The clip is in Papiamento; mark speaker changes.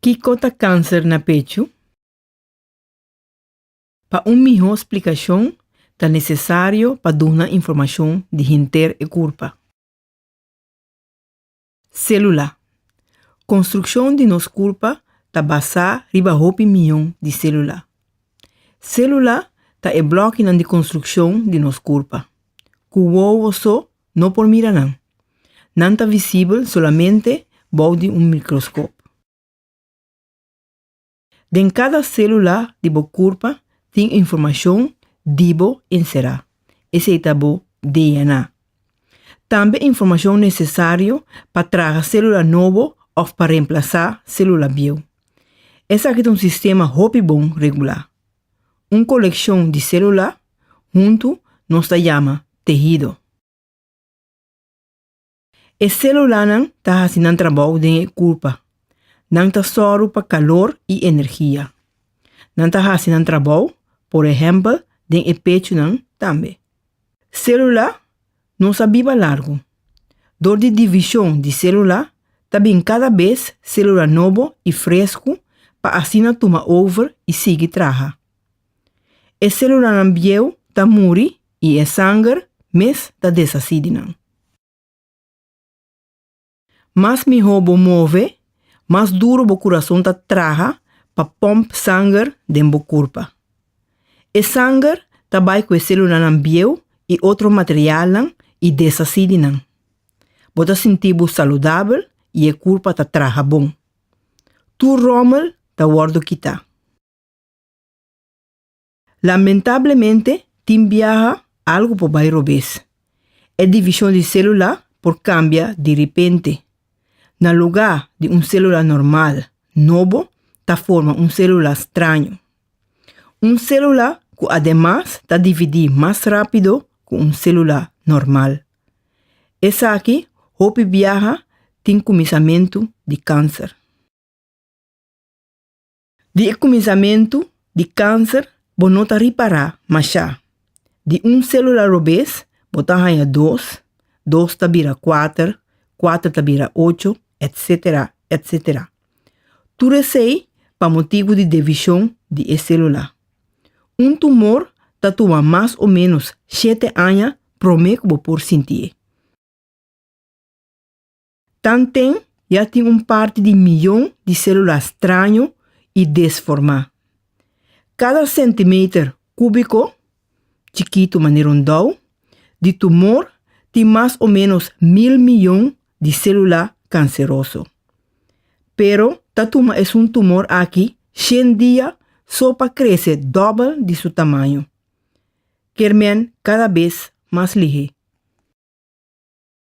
Speaker 1: Kiko ta kanser na pechu? Pa un mihó splikashon ta nesesario pa duna informashon di henter e kurpa. Sélula. Konstrukshon di nos kurpa ta basá riba hopi miyon di sélula. Sélula ta e blòkinan di konstrukshon di nos kurpa, ku wowo so no por mira nan. Nan ta visibel solamente bou di un mikroskop. Den kada sélula di bo kurpa tin informashon di bo enserá, esei ta bo DNA. Tambe informashon nesesario pa traha sélula nobo òf pa remplasá sélula bieu. Esaki ta un sistema hopi bon regulá. Un kolekshon di selulá huntu nos ta yama tehido. E selulanan ta hasi nan trabou den e kulpa. Nan ta sòru pa kalor i energia. Nan ta hasi nan trabou, por ehèmpel, den e pechunan tambe. Celula nos a biba largu. Dor di division di celula ta bin cada bes celula nobo y frescu pa asina tuma over y sigui traha. E celulanan bieu ta muri y e sanger mes ta deshaci di nan. Mas mihó bo move, mas duru bo kurason ta traha pa pòmp sanger den bo kurpa. E sanger ta bai ku e selulanan bieu i otro materialnan i deshasí di nan. Bo ta sinti bo saludabel i e kurpa ta traha bon. Tur ròmel ta wòrdu kitá. Lamentablemente tin biaha algu por bai robes. E division di celula por cambia di ripente. Na luga di un celula normal, nobo ta forma un celula straño. Un celula cu ademas ta dividi mas rapido cu un celula normal. Esaki hopi biaha tin cuminsamentu di cancer. Di e kuminsamentu di kanser bo no ta ripará mashá. Di un sélula robes bo ta haña dos, dos ta bira kuater, kuater ta bira ocho, etsétera, etsétera. Tur esei pa motibu di devishon di e sélula. Un tumor ta tuma mas o ménos shete aña promé ku bo por sintié. Tanten ya tin un parti di miyon di selula straño i desformá. Kada sentimeter kúbiko, chikitu manera un dou, di tumor tin mas o ménos mil miyon di selula kanseroso. Pero ta tuma esun tumor aki shen dia so pa krese dòbel di su tamaño. Kermen kada bes mas lihé.